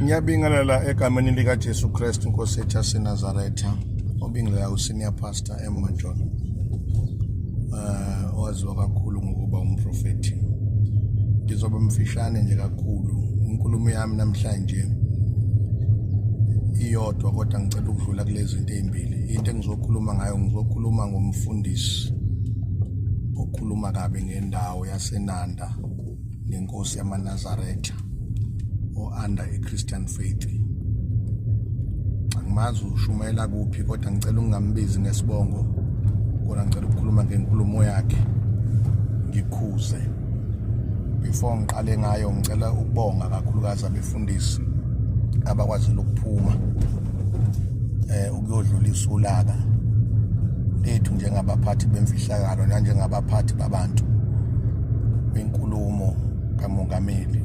ngiyabingelela egameni likajesu kristu nkosi ethu yasenazaretha obingelela usenior pastor emmanjolo um eh, owaziwa kakhulu ngokuba umprofethi ngizoba mfishane nje kakhulu inkulumo yami namhlanje iyodwa kodwa ngicela ukudlula kulezi zinto ey'mbili into engizokhuluma ngayo ngizokhuluma ngomfundisi okhuluma kabi ngendawo yasenanda ngenkosi yamanazaretha o-under i-christian faith angimazi ushumayela kuphi kodwa ngicela ungambizi ngesibongo kodwa ngicela ukukhuluma ngenkulumo yakhe ngikhuze before ngiqale ngayo ngicela ukubonga kakhulukazi abafundisi abakwazile ukuphuma eh ukuyodlulisa ulaka lethu njengabaphathi bemfihlakalo nanjengabaphathi babantu kwinkulumo kamongameli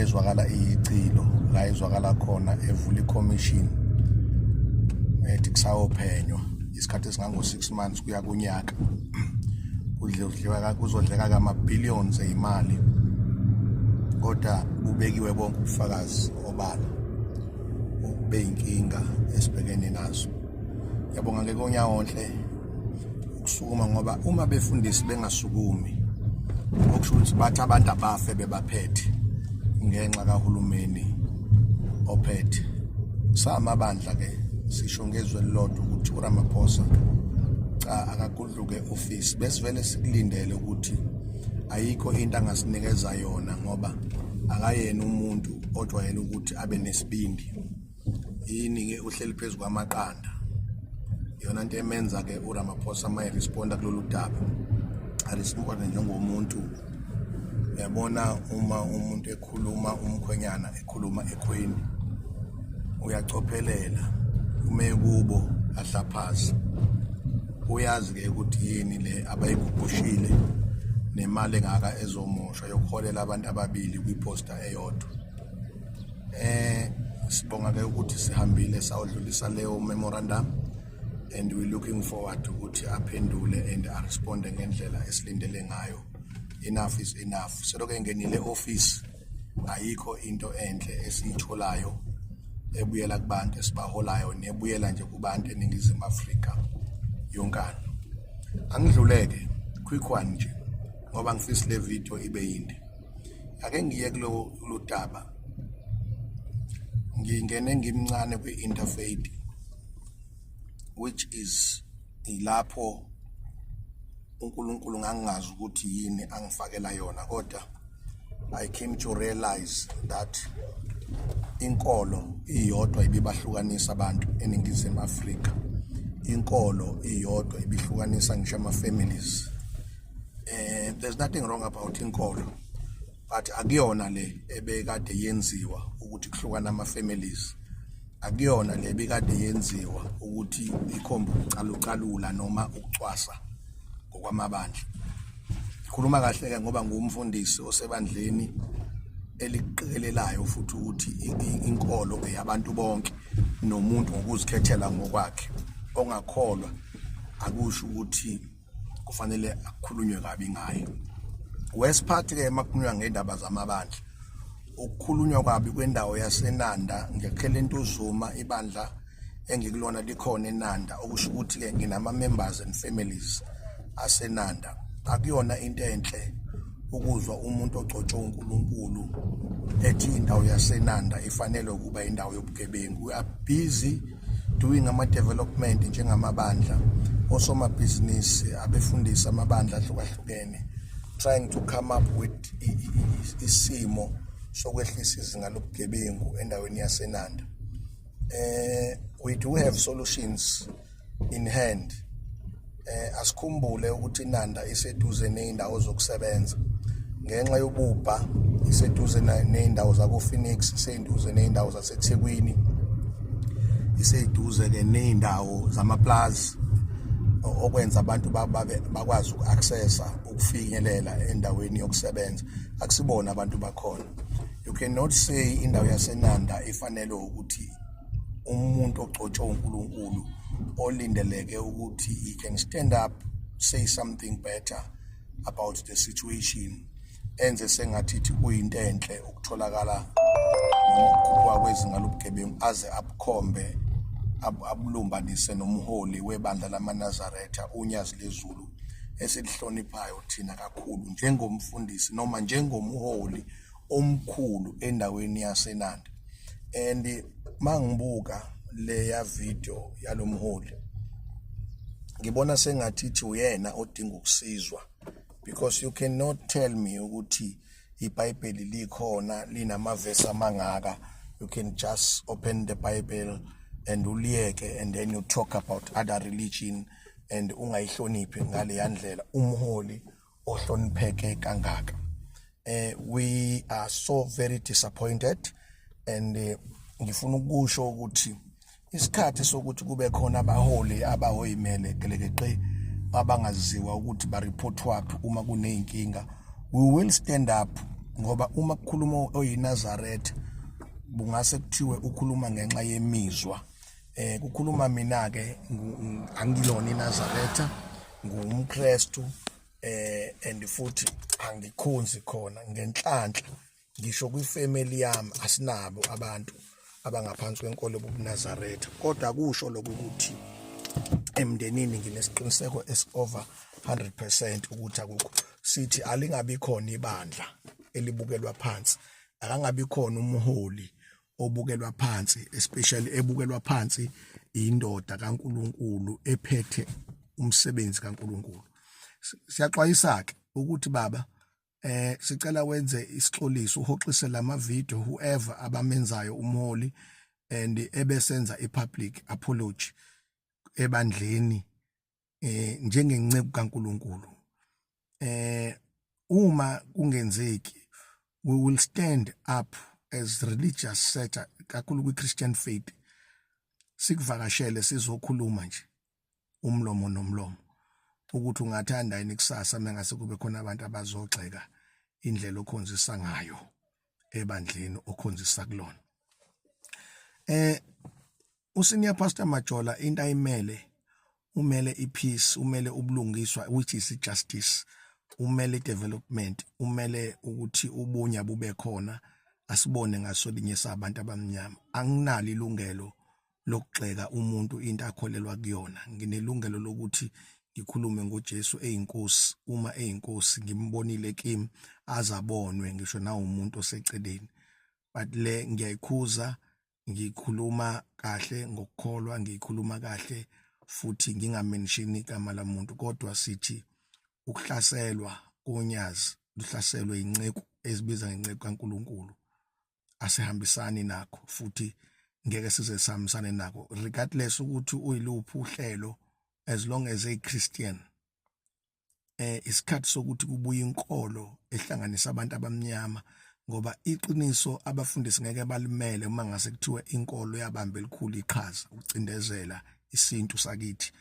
ezwakala iyicilo la ezwakala khona evula ikhomishini ethi kusayophenywa isikhathi esingango-6 months kuya kunyaka kudliwa kuzodleka kama billions eimali kodwa kubekiwe bonke ubufakazi obala okube inkinga esibhekene nazo yabonga ke konyawonhle ukusukuma ngoba uma befundisi bengasukumi okusho ukuthi bathi abantu abafe bebaphethe ngenxa kahulumeni ophethe samabandla Ake sisho ngezwe lilodwa ukuthi uRamaphosa cha akagudluke office besivele sikulindele ukuthi ayikho into angasinikeza yona ngoba akayena umuntu ojwayele ukuthi abe nesibindi yini ke uhleli phezu kwamaqanda yona nto emenza ke uRamaphosa maye responda kulolu daba arisibone njengomuntu yabona uma umuntu ekhuluma umkhwenyana ekhuluma ekhweni uyacophelela ume kubo ahlaphaza uyazi ke ukuthi yini le abayiguqushile nemali engaka ezomoshwa yokuholela abantu ababili kwiposta eyodwa eh sibonga ke ukuthi sihambile sawudlulisa leyo memorandum and we looking forward ukuthi aphendule and aresponde ngendlela esilindele ngayo enough is enough seloke ngenile office ayikho into enhle esiyitholayo ebuyela kubantu esibaholayo nebuyela nje kubantu eningizimu Afrika yonkana angidluleke quick one nje ngoba ngifisa le video ibe yinde ake ngiye kulo lutaba ngingene ngimncane kwi-interfaith which is ilapho uNkulunkulu ngangingazi ukuthi yini angifakela yona kodwa I came to realize that inkolo iyodwa ibibahlukanisa abantu eningizimu Afrika inkolo iyodwa ibihlukanisa ngisho ama families eh there's nothing wrong about inkolo but akuyona le ebekade yenziwa ukuthi kuhlukana ama families akuyona le bikade yenziwa ukuthi ikhombe ukucalucalula noma ukucwasa ngokwamabandla khuluma kahle ke ngoba ngumfundisi osebandleni eliqikelelayo futhi ukuthi inkolo eyabantu bonke nomuntu ngokuzikhethela ngokwakhe ongakholwa akusho ukuthi kufanele akukhulunywe kabi ngayo wesiphathi ke makukhulunywa ngendaba zamabandla ukukhulunywa kwabi kwendawo yasenanda ngiyakhela into uzuma ibandla engikulona likhona enanda okusho ukuthi ke nginama members and families asenanda akuyona into enhle ukuzwa umuntu ogcotshwe uNkulunkulu ethi indawo yasenanda ifanele ukuba indawo yobugebengu we are busy doing ama-development njengamabandla osomabhizinisi abefundisa amabandla ahlukahlukene trying to come up with isimo sokwehlisa izinga lobugebengu endaweni yasenanda eh we do have solutions in hand Eh asikhumbule ukuthi iNanda iseduze nezindawo zokusebenza. Ngenxa yobubha iseduze nezindawo zako Phoenix, iseduze nezindawo zaseThekwini. Iseduze ke nezindawo zamaplaza okwenza abantu bakwazi uku-accessa ukufinyelela endaweni yokusebenza akusibona abantu bakhona you cannot say indawo yasenanda ifanelwe ukuthi umuntu ogcotshwe uNkulunkulu olindeleke ukuthi he can stand up say something better about the situation enze sengathi kuyinto enhle ukutholakala ngokukhuphuka kwezinga lobugebengu aze abukhombe abulumbanise nomholi webandla lamanazaretha unyazi lezulu esilihloniphayo thina kakhulu njengomfundisi noma njengomholi omkhulu endaweni yaseNanda and mangibuka leya video yalomholi ngibona sengathi ithi uyena odinga ukusizwa because you cannot tell me ukuthi iBhayibheli likhona linamavesi amangaka you can just open the bible and uliyeke and then you talk about other religion and ungayihloniphi ngale yandlela umholi ohlonipheke kangaka eh we are so very disappointed and eh, ngifuna ukusho ukuthi isikhathi sokuthi kube khona abaholi abahoyimele gelekeqe abangaziwa ukuthi ba report waphi uma kuneyinkinga we will stand up ngoba uma kukhuluma oyiNazareth bungase kuthiwe ukhuluma ngenxa yemizwa eh kukhuluma mina ke angilona iNazaretha ngumKristu eh and futhi angikhonzi khona ngenhlanhla ngisho kwifamily yami asinabo abantu abangaphansi kwenkolo yobuNazaretha kodwa kusho lokuthi emndenini nginesiqiniseko esover 100% ukuthi akukho sithi alingabi khona ibandla elibukelwa phansi akangabi khona umholi obukelwa phansi especially ebukelwa phansi indoda kaNkuluNkulu ephethe umsebenzi kaNkuluNkulu siyaxwayisa ke ukuthi baba eh sicela wenze isixoliso uhoxise lama video whoever abamenzayo umholi and ebesenza ipublic apology ebandleni eh njengenceku kaNkuluNkulu eh uma kungenzeki we will stand up as religious sector kakhulu kwi Christian faith sikuvakashele sizokhuluma nje umlomo nomlomo ukuthi ungathanda yini kusasa mengase kube khona abantu abazogxeka indlela okhonzisa ngayo ebandleni okhonzisa kulona eh usenior pastor Majola into ayimele umele ipeace umele ubulungiswa which is justice umele development umele ukuthi ubunya bube khona asibone ngasolinye sabantu abamnyama anginalo ilungelo lokugxeka umuntu into akholelwa kuyona nginelungelo lokuthi ngikhulume ngoJesu eyinkosi uma eyinkosi ngimbonile kimi azabonwe ngisho nawumuntu oseceleni but le ngiyayikhuza ngikhuluma kahle ngokukholwa ngikhuluma kahle futhi ngingamenshini igama lamuntu kodwa sithi ukuhlaselwa konyazi luhlaselwe inceku ezibiza ngenceku kaNkuluNkulu asihambisani nakho futhi ngeke size sihambisane nako regardless ukuthi uyiluphi uhlelo as long as a Christian eh isikhathi sokuthi kubuye inkolo ehlanganisa abantu abamnyama ngoba iqiniso abafundisi ngeke balimele uma ngase kuthiwa inkolo yabamba elikhulu iqhaza ukucindezela isintu sakithi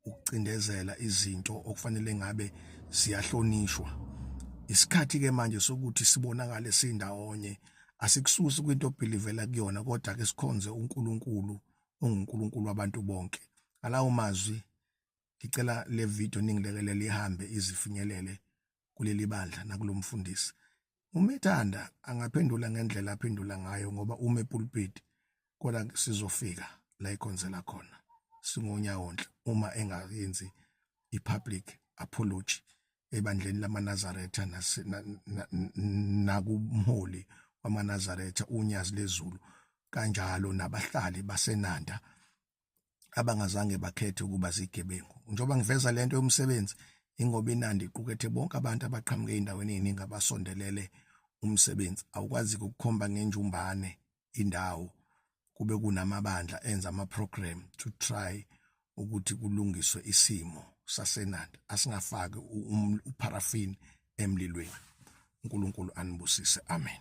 ukucindezela izinto okufanele ngabe siyahlonishwa isikhathi ke manje sokuthi sibonakale sindawonye asikususi kwinto obhilivela kuyona kodwa ke sikhonze uNkulunkulu onguNkulunkulu wabantu bonke alawo mazwi ngicela le video ningilekelele ihambe izifinyelele kuleli bandla nakulomfundisi uma ethanda angaphendula ngendlela aphendula ngayo ngoba ume pulpit kodwa sizofika la ikhonzela khona singonyawonhle uma engayenzi i-public apology ebandleni lamanazaretha nakumholi wamanazaretha unyazi lezulu kanjalo nabahlali basenanda abangazange bakhethe ukuba zigebengu njengoba ngiveza lento yomsebenzi ingoba inandi iqukethe bonke abantu abaqhamuke endaweni eziningi abasondelele umsebenzi awukwazi ukukhomba ngenjumbane indawo kube kunamabandla enza ama program to try ukuthi kulungiswe isimo sasenandi asingafaki um-, uparaffin emlilweni uNkulunkulu anibusise amen